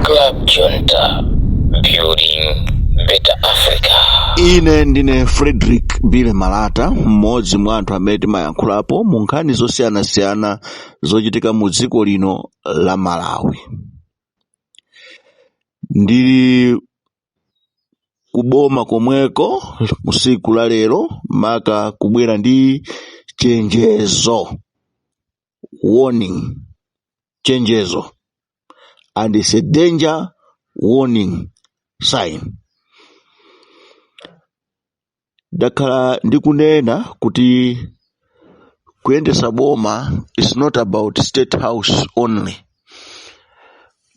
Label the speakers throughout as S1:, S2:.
S1: Club Junta, building better Africa. ine
S2: ndine frederick billy malata mmodzi mwa anthu amene timayankhulapo mu nkhani zosiyanasiyana zochitika mu dziko lino la malawi ndili kuboma komweko usiku la lero maka kubwera ndi chenjezo warning chenjezo and it's a danger warning sign ndakhala ndikunena kuti kuyendesa boma is not about state house only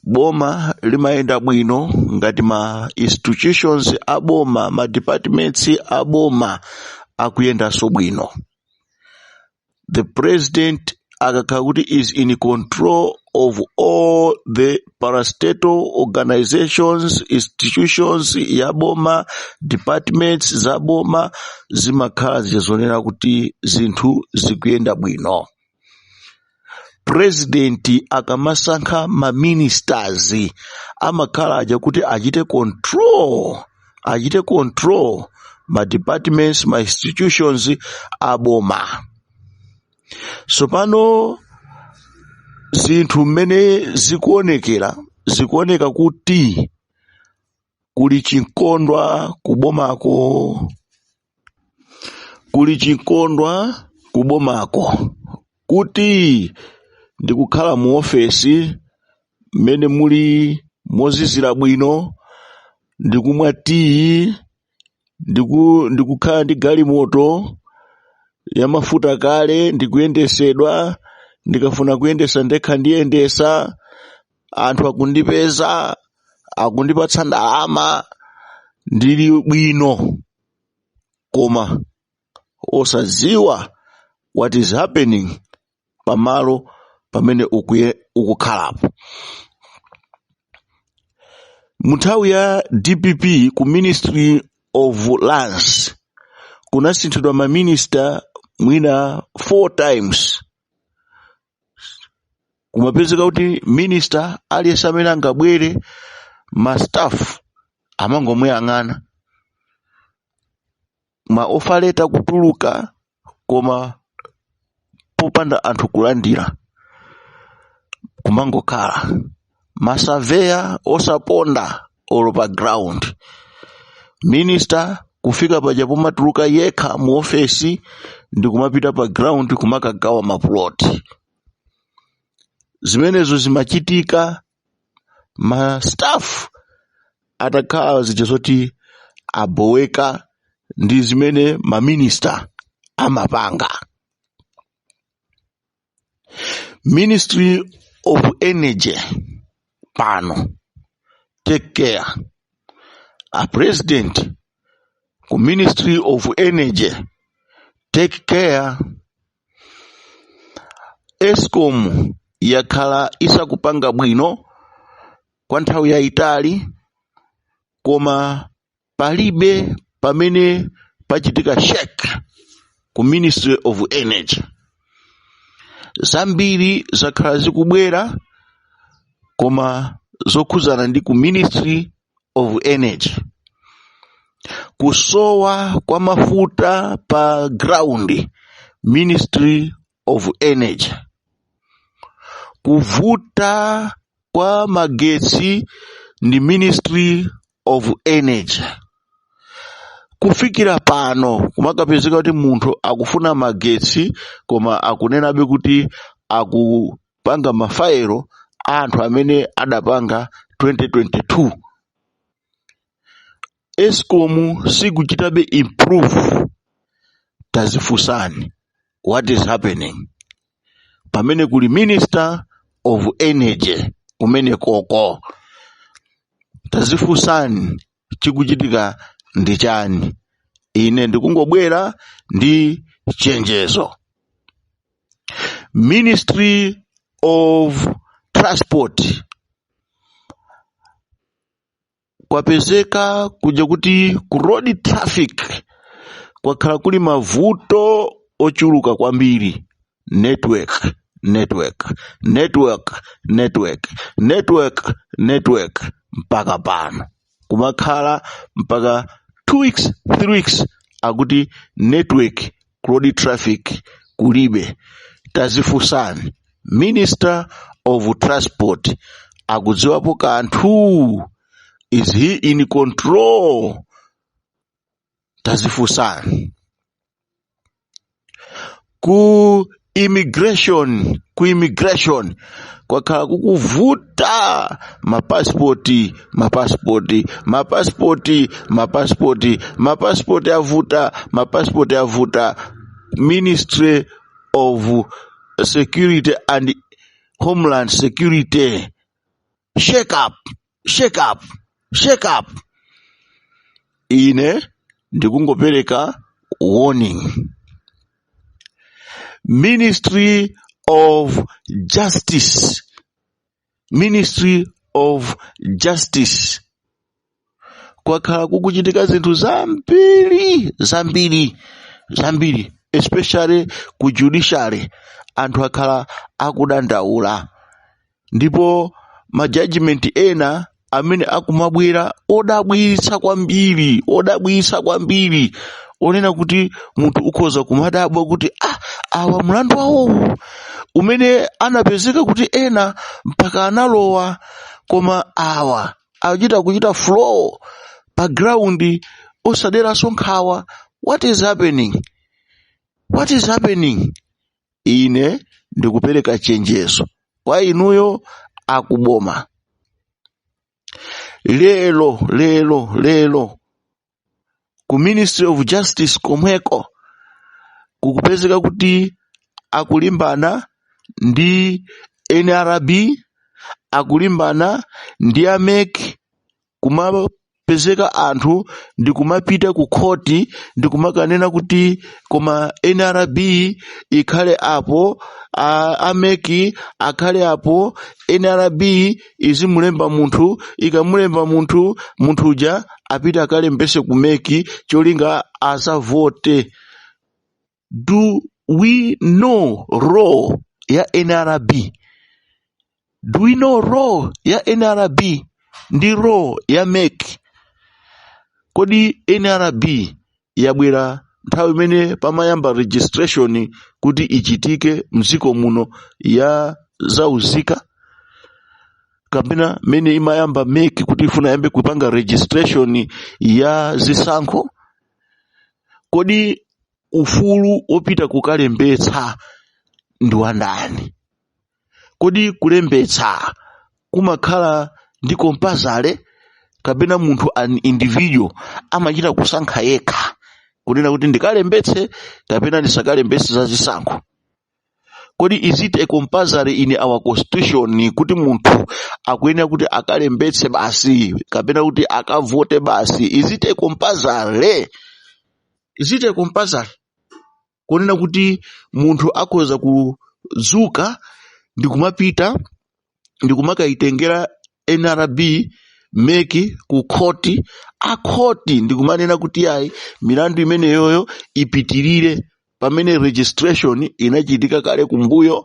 S2: boma limayenda bwino ngati ma institutions a boma ma departments a boma akuyendanso bwino The president akakhala kuti is in control of all the parastatal organizations, institutions, yaboma, departments, zaboma, zimakhala zikusonyeza kuti zinthu zikuyenda bwino. President akamasankha ma ministers amakhala aja kuti achite control achite control ma departments ma institutions aboma tsopano zinthu mmene zikuonekera zikuoneka kuti kuli chinkondwa kubomako kuli chinkondwa kubomako kuti ndikukhala mu ofesi mmene muli mozizira bwino ndikumwa tiyi ndikukhala ndi galimoto yamafuta kale ndikuyendesedwa ndikafuna kuyendesa ndekha ndiyendesa anthu akundipeza akundipatsa ndalama ndili bwino koma osadziwa what is happening pamalo pamene ukukhalapo munthawi ya dpp ku ministry of lands kunasinthidwa maminista mwina four times kumapezeka kuti minister aliyense amene angabwere ma staff amangomuyang'ana ma offer letter kutuluka koma popanda anthu kulandira kumangokhala ma surveyor osaponda olo pa ground minister kufika paja pomatuluka yekha mu ofesi ndi kumapita pa ground kumakagawa maplot zimenezo zimachitika ma staff atakhala zija zoti aboweka ndi zimene maminista amapanga ministry of energy pano take care a president ku ministry of energy take care escom yakhala isakupanga bwino kwa nthawi yayitali koma palibe pamene pachitika shake ku ministry of energy zambiri zakhala zikubwera koma zokhudzana ndi ku ministry of energy kusowa kwa mafuta pa ground ministry of energy kuvuta kwa magetsi ndi ministry of energy kufikira pano kumakapezeka kuti munthu akufuna magetsi koma akunenabe kuti akupanga mafayilo a anthu amene adapanga 2022 escom sikuchitabe improve tazifunsani what is happening pamene kuli minister of energy kumene koko tazifunsani chikuchitika ndi chani ine ndikungobwera ndi chenjezo ministry of transport kwapezeka kuja kuti ku road traffic kwakhala kuli mavuto ochuluka kwambiri network network network network network network mpaka pano kumakhala mpaka 2 weeks 3 weeks akuti network road traffic kulibe tazifunsani minister of transport akudziwapo kanthu is he in control tazifunsani ku immigration ku immigration kwakhala kukuvuta mapasipoti mapasipoti mapasipoti mapasipoti mapasipoti avuta mapasipoti avuta ministry of security and homeland security shake up shake up shake up ine ndikungopereka warning ministry of justice ministry of justice kwakhala kukuchitika zinthu zambiri zambiri zambiri especially ku judiciary anthu akhala akudandaula ndipo majajimenti ena amene akumabwera odabwitsa kwambiri odabwitsa kwambiri onena kuti munthu ukhoza kumadabwa kuti ah awa mlandu wawowo umene anapezeka kuti ena mpaka analowa koma awa akuchita kuchita flow pa ground osaderanso nkhawa what is happening what is happening ine ndikupereka chenjezo kwa inuyo akuboma lero lero lero ku ministry of justice komweko kukupezeka kuti akulimbana ndi nrb akulimbana ndi a MEC kumapezeka anthu ndi kumapita ku khoti ndi kumakanena kuti koma nrb ikhale apo a- a MEC akhale apo nrb izimulemba munthu ikamulemba munthu munthu uja apita akalembese ku meki cholinga azavote do we know role ya nrb do we know role ya nrb ndi role ya meki kodi nrb yabwera nthawi imene pamayamba registration kuti ichitike mdziko muno ya za unzika kapena mene imayamba MEC kuti ifuna iyambe kupanga registration ya zisankho kodi ufulu wopita kukalembetsa ndi wandani kodi kulembetsa kumakhala ndi compulsory kapena munthu an individual amachita kusankha yekha kunena kuti ndikalembetse kapena ndisakalembetse za zisankho kodi is it a compulsory in our constitution kuti munthu akuyenera kuti akalembetse basi kapena kuti akavote basi is it a compulsory is it a compulsory kunena kuti munthu akhoza kudzuka ndi kumapita ndi kumakaitengera nrb MEC ku khoti akhoti ndi kumanena kuti yayi milandu imeneyoyo ipitirire pamene registration inachitika kale kumbuyo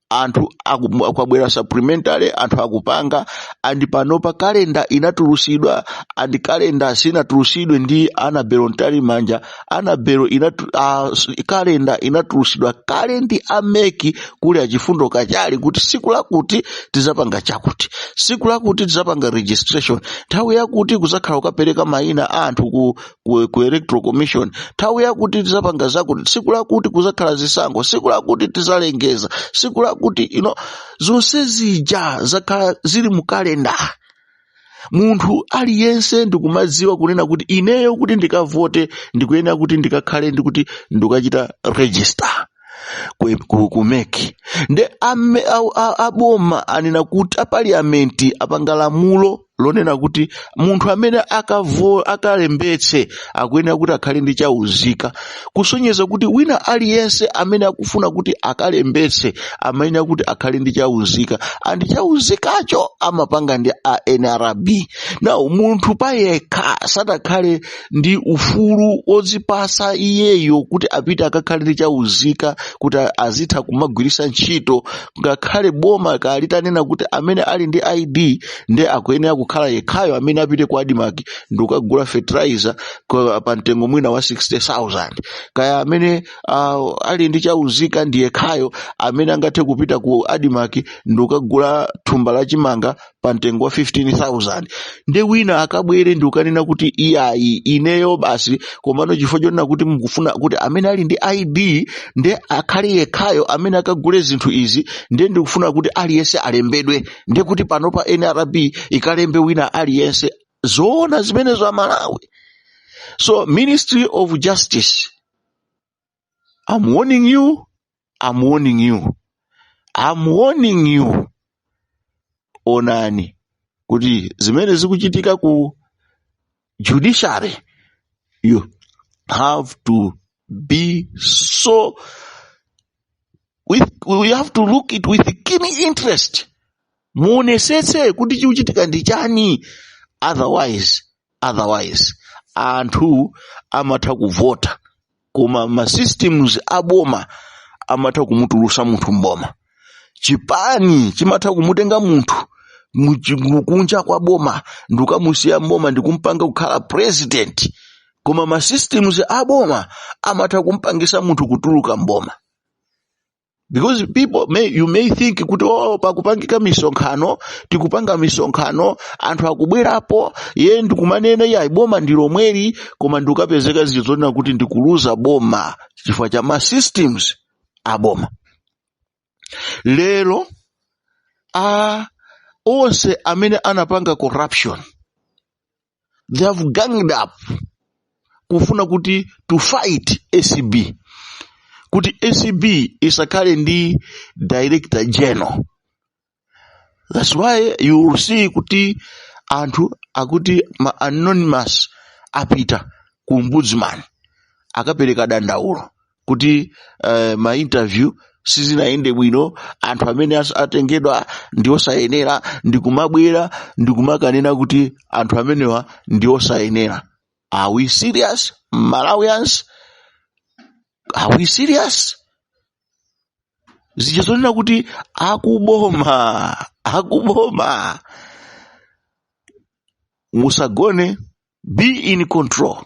S2: anthu aku- kwabwera supplementary anthu akupanga and panopa kalenda inatulusidwa and kalenda sinatulusidwe ndi anabelo Mtalimanja anabelo inatu, uh, kalenda inatulusidwa kale ndi a MEC kuli a Chifundo Kachale kuti siku lakuti tizapanga chakuti siku lakuti tizapanga registration nthawi yakuti kuzakhala kukapereka mayina a anthu ku, ku, ku electoral commission nthawi yakuti tizapanga zakuti tsiku lakuti kuzakhala zisankho tsiku lakuti tizalengeza tsiku lakuti you know, zonse zija zakhala zili mu kalenda munthu aliyense ndikumadziwa kunena kuti ineyo kuti ndikavote ndikuyenera kuti ndikakhale ndikuti ndikachita register ku- ku- ku mec nde ame- a- a- aboma anena kuti apaliyamenti apanga lamulo lonena kuti munthu amene akavo akalembetse akuyenera kuti akhale ndi chauzika kusonyeza kuti wina aliyense amene akufuna kuti akalembetse amayenera kuti akhale ndi chauzika and chauzikacho amapanga ndi a nrb now munthu payekha satakhale ndi ufulu odzipasa iyeyo kuti apite akakhale ndi chauzika kuti azitha kumagwiritsa ntchito ngakhale boma litanena kuti amene ali ndi id nde akuyenera kukhala yekhayo amene apite ku admarc ndikukagula fertilizer kwa- pa mtengo mwina wa 60000 kaya amene uh, ali ndi chauzika ndi yekhayo amene angathe kupita ku admarc ndikukagula thumba la chimanga pa mtengo wa 15000 ndi wina akabwere ndikukanena kuti iyayi ineyo basi komano chifukwa chonena kuti mukufuna kuti amene ali ndi id nde akhale yekhayo amene akagule zinthu izi nde ndikufuna kuti aliyense alembedwe ndiye kuti panopa nrb ikalembe wina aliyense zoona zimenezo amalawi so ministry of justice i'm warning you i'm warning you i'm warning you onani kuti zimene zikuchitika ku judiciary you have to be so, we have to look it with keen interest muonesese kuti chikuchitika ndi chani otherwise otherwise anthu amatha kuvota koma ma systems a boma amatha kumutulusa munthu mboma chipani chimatha kumutenga munthu muchi- mu- kunja kwa boma ndikukamusiya mboma ndikumpanga kukhala president koma ma systems a boma amatha kumpangisa munthu kutuluka mboma because people may, you may think kuti oh, pakupangika misonkhano tikupanga misonkhano anthu akubwerapo ye ndikumanena yayi boma ndi lomweli koma ndikukapezeka zinthu zonena kuti ndikuluza boma chifukwa cha ma systems a boma lero a onse amene anapanga corruption they have ganged up kufuna kuti to fight acb kuti acb isakhale ndi director general that's why you will see kuti anthu akuti ma anonymous apita ku ombudsman akapereka dandaulo kuti uh, ma interview sizinayende bwino anthu amene as- atengedwa ndi osayenera ndikumabwera ndikumakanena kuti anthu amenewa ndi osayenera are we serious malawians are we serious zija zonena kuti akuboma akuboma musagone be in control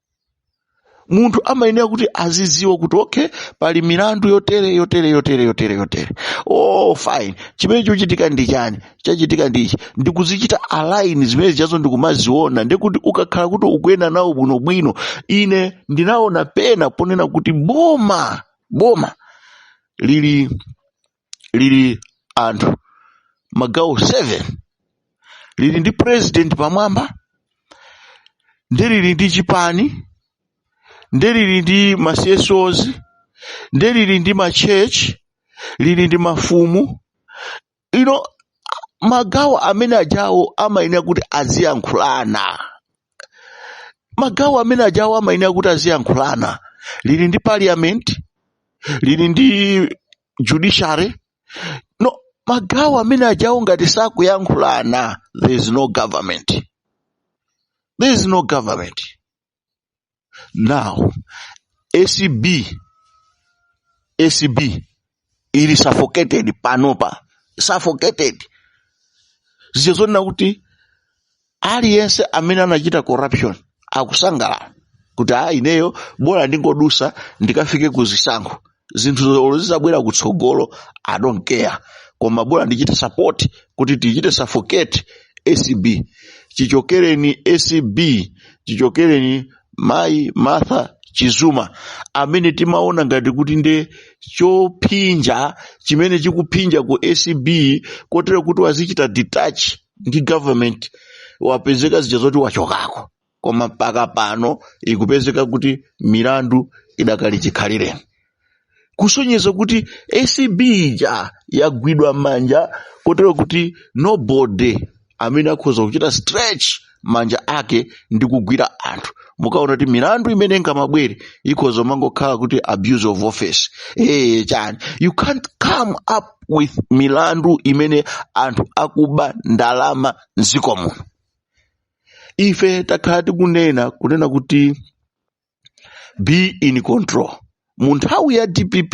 S2: munthu amayenera kuti azidziwa kuti okay pali milandu yotere yotere yotere yotere yotere oh fine chimene chochitika ndi chani chachitika ndi ichi ndikuzichita align zimene zijazo ndikumaziona ndikuti ukakhala kuti ukuyenda nawo bwinobwino ine ndinaona pena ponena kuti boma boma lili lili anthu magawo 7 lili ndi president pamwamba nde lili ndi chipani nde lili ndi ma CSOs nde lili ndi ma church lili ndi mafumu no magawo amene ajawo amayenera kuti aziyankhulana magawo amene ajawo amayenera kuti aziyankhulana lili ndi parliament lili ndi judiciary no magawo amene ajawo ngati sakuyankhulana there is no government there is no government now acb acb ili suffocated panopa suffocated zija zonena kuti aliyense amene anachita corruption akusangalala kuti a ineyo bola ndingodusa ndikafike ku zisankho zinthu zolo zizabwera kutsogolo i don't care koma bola ndichite support kuti tichite suffocate acb chichokereni acb chichokereni mayi martha chizuma amene timaona ngati kuti nde chophinja chimene chikuphinja ku acb kotero kuti wazichita detach ndi government wapezeka zija zoti wachokako koma mpaka pano ikupezeka kuti milandu idakali chikhalireni kusonyeza kuti acb ija yagwidwa manja kotero kuti nobody amene akhoza kuchita stretch manja ake ndi kugwira anthu mukaona kuti milandu imene ingamabwere ikhoza kumangokhala kuti abuse of office ee chani you can't come up with milandu imene anthu akuba ndalama mdziko muno ife takhala tikunena kunena kuti be in control mu nthawi ya dpp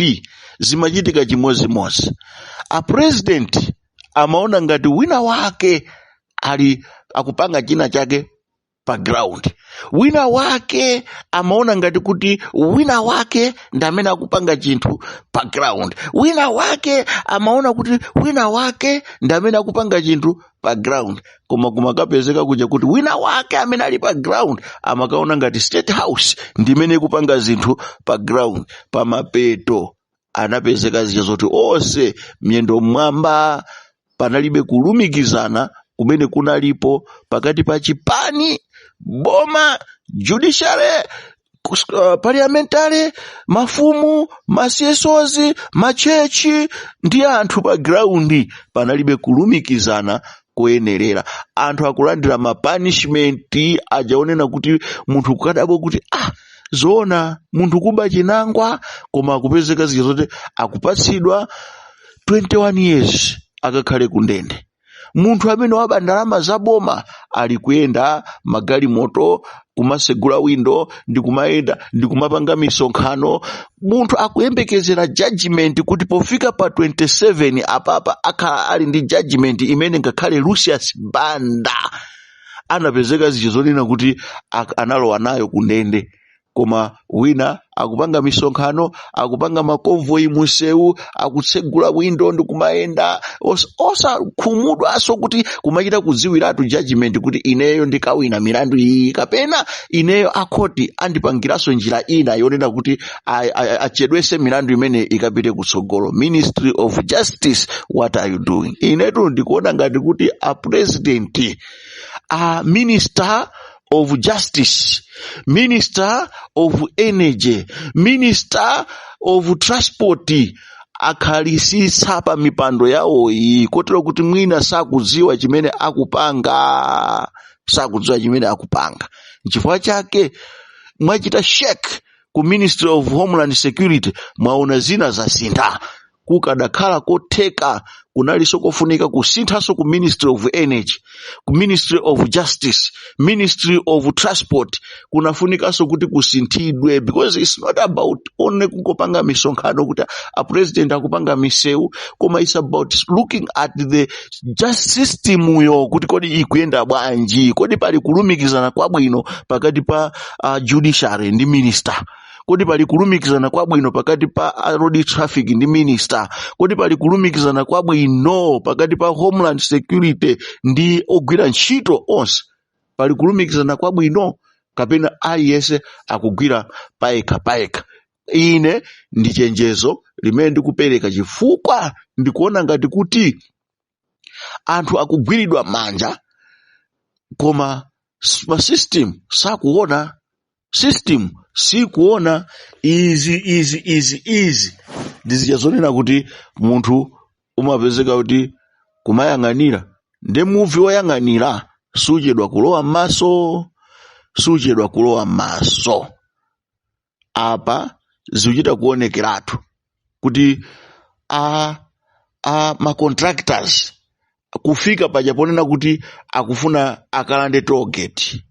S2: zimachitika chimodzimodzi a president amaona ngati wina wake ali akupanga china chake pa ground wina wake amaona ngati kuti wina wake ndi amene akupanga chinthu pa ground wina wake amaona kuti wina wake ndi amene akupanga chinthu pa ground koma kumakapezeka kuja kuti wina wake amene ali pa ground amakaona ngati state house ndi imene ikupanga zinthu pa ground pamapeto anapezeka zija zoti onse miyendo mmwamba panalibe kulumikizana kumene kunalipo pakati pa chipani boma judiciary parliamentary mafumu ma CSOs machechi ndi anthu pa ground panalibe kulumikizana koyenerera anthu akulandira mapanishimenti aja onena kuti munthu kukadabwa kuti ah zoona munthu kuba chinangwa koma akupezeka zija zoti akupatsidwa 21 years akakhale kundende munthu amene waba ndalama za boma alikuyenda magalimoto kumasegula windo ndikumayenda ndikumapanga misonkhano munthu akuyembekezera judgment kuti pofika pa 27 apapa akhala ali ndi judgment imene ngakhale lucius banda anapezeka zija zonena kuti ak- analowa nayo kundende koma wina akupanga misonkhano akupanga makonvoyi mumsewu akutsegula windo ndi kumayenda os- osakhumudwanso kuti kumachita kudziwiratu judgment kuti ineyo ndikawina milandu iyi kapena ineyo akhoti andipangiranso njira ina yonena kuti a- a- a- achedwese milandu imene ikapite kutsogolo ministry of justice what are you doing inetu ndikuona ngati kuti a president a minister of justice minister of energy minister of transport akhalisitsa pa mipando yawoyi kotero kuti mwina sakudziwa chimene akupanga sakudziwa chimene akupanga nchifukwa chake mwachita shake ku ministry of homeland security mwaona zina zasintha kukadakhala kotheka kunalinso kofunika kusinthanso ku ministry of energy ku ministry of justice ministry of transport kunafunikanso kuti kusinthidwe because its not about only kungopanga misonkhano kuti a president akupanga misewu koma its about looking at the justice system yo kuti kodi ikuyenda bwanji kodi pali kulumikizana kwabwino pakati pa uh, judiciary ndi minister kodi pali kulumikizana kwabwino pakati pa road traffic ndi minister kodi pali kulumikizana kwabwino pakati pa homeland security ndi ogwira ntchito onse pali kulumikizana kwabwino kapena aliyense akugwira payekha payekha ine ndi chenjezo limene ndikupereka chifukwa ndikuona ngati kuti anthu akugwiridwa m'manja koma s- ma system sakuona system sikuona izi izi izi izi ndi zija zonena kuti munthu umapezeka kuti kumayang'anira nde muvi woyang'anira suchedwa kulowa m'maso suchedwa kulowa m'maso apa zikuchita kuonekeratu kuti a a ma contractors kufika paja ponena kuti akufuna akalande toll gate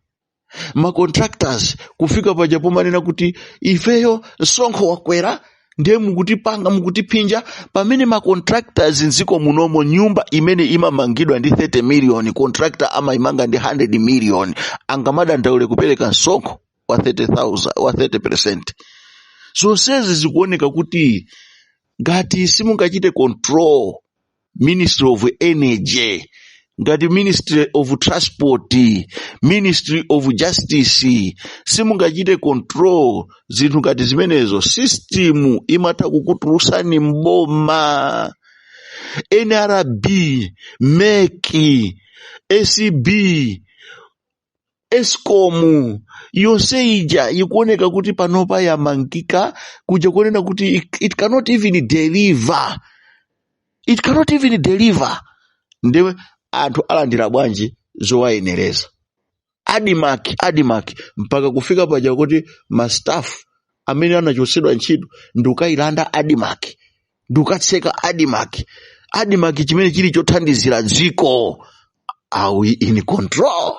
S2: ma contractors kufika paja pomanena kuti ifeyo msonkho wakwera ndiye mukutipanga mukutiphinja pamene ma contractors mdziko munomo nyumba imene imamangidwa ndi 30 million contractor amaimanga ndi 100 million angamadandaule kupereka msonkho wa 30,000 wa 30% zonsezi zikuoneka kuti ngati simungachite control ministry of energy ngati ministry of transport ministry of justice simungachite control zinthu ngati zimenezo system imatha kukutulutsani mboma nrb mec acb escom yonse ija ikuoneka kuti panopa yamangika kuja kuonena kuti it, it cannot even deliver it cannot even deliver ndiye anthu alandira bwanji zowayenereza admarc admarc mpaka kufika paja kuti mastaff amene anachotsedwa ntchito ndikukayilanda admarc ndikukatseka admarc admarc chimene chili chothandizira dziko are we in control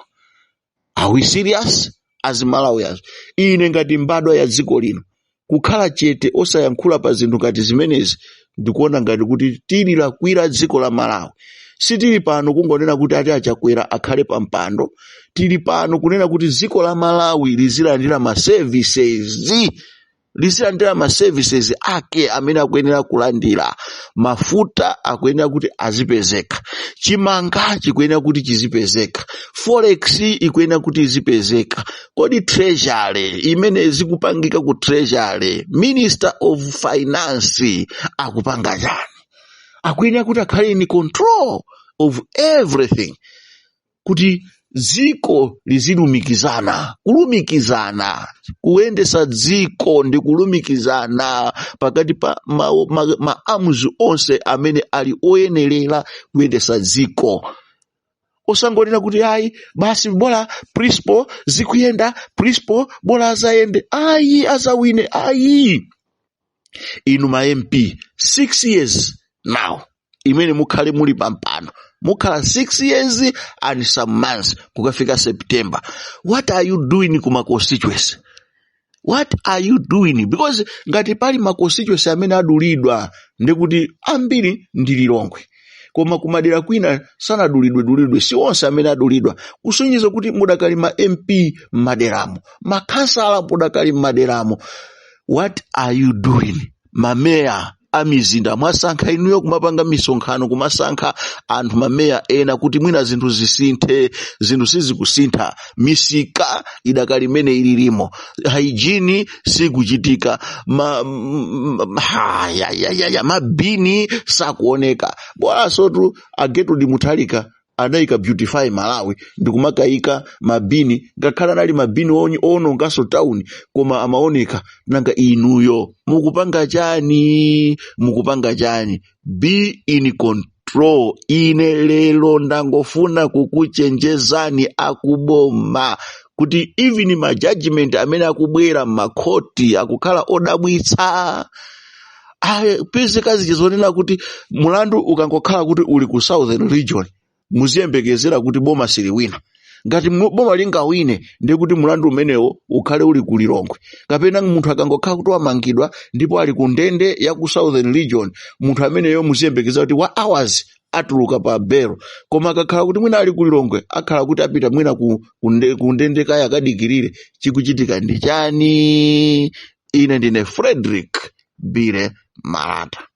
S2: are we serious as malawians ine ngati mbadwa ya dziko lino kukhala chete osayankhula pa zinthu ngati zimenezi ndikuona ngati kuti tililakwira dziko la malawi sitili pano kungonena kuti ati a chakwera akhale pa mpando tili pano kunena kuti dziko la malawi lizilandira ma services lizilandira ma services ake amene akuyenera kulandira mafuta akuyenera kuti azipezeka chimanga chikuyenera kuti chizipezeka forex ikuyenera kuti izipezeka kodi treasury imene zikupangika ku treasury minister of finance akupanga chani akuyenera kuti akhale in control of everything kuti dziko lizilumikizana kulumikizana kuyendesa dziko ndi kulumikizana pakati pa ma, ma, ma arms onse amene ali oyenerera kuyendesa dziko osangonena kuti ayi basi bola principal zikuyenda principal bola azayende ayi azawine ayi inu ma mp 6 years now imene mukhale muli pampano mukhala 6 years and some months kukafika september what are you doing ku ma constituency what are you doing because ngati pali ma constituency amene adulidwa ndikuti ambiri ndi lilongwe koma kumadera kwina sanadulidwedulidwe si onse amene adulidwa kusonyeza kuti mudakali ma mp m'maderamo makhansala mudakali m'maderamo what are you doing mameya a mizinda mwasankha inuyo kumapanga misonkhano kumasankha anthu mameya ena kuti mwina zinthu zisinthe zinthu sizikusintha misika idakali mmene ililimo hygiene sikuchitika ma, m- m- ha, ya, ya, ya, ya, mabini sakuoneka bolansotu a gertrude mutharika adayika beautify malawi ndikumakayika mabini ngakhale anali mabini onyi- owononganso town koma amaoneka nanga inuyo mukupanga chani mukupanga chani be in control ine lero ndangofuna kukuchenjezani akuboma kuti even ma judgment amene akubwera m'makhoti akukhala odabwitsa apezeka zichizonena kuti mulandu ukangokhala kuti uli ku southern region muziyembekezera kuti boma siliwina ngati mu- boma lingawine ndiye kuti mulandu umenewo ukhale uli ku lilongwe kapena munthu akangokhala kuti wamangidwa ndipo ali ku ndende ya ku southern region munthu ameneyo muziyembekezera kuti wa hours atuluka pa belo koma akakhala kuti mwina ali ku lilongwe akhala kuti apita mwina ku, ku, nde, ku ndende kaya akadikirire chikuchitika ndi chani ine ndine frederick billy malata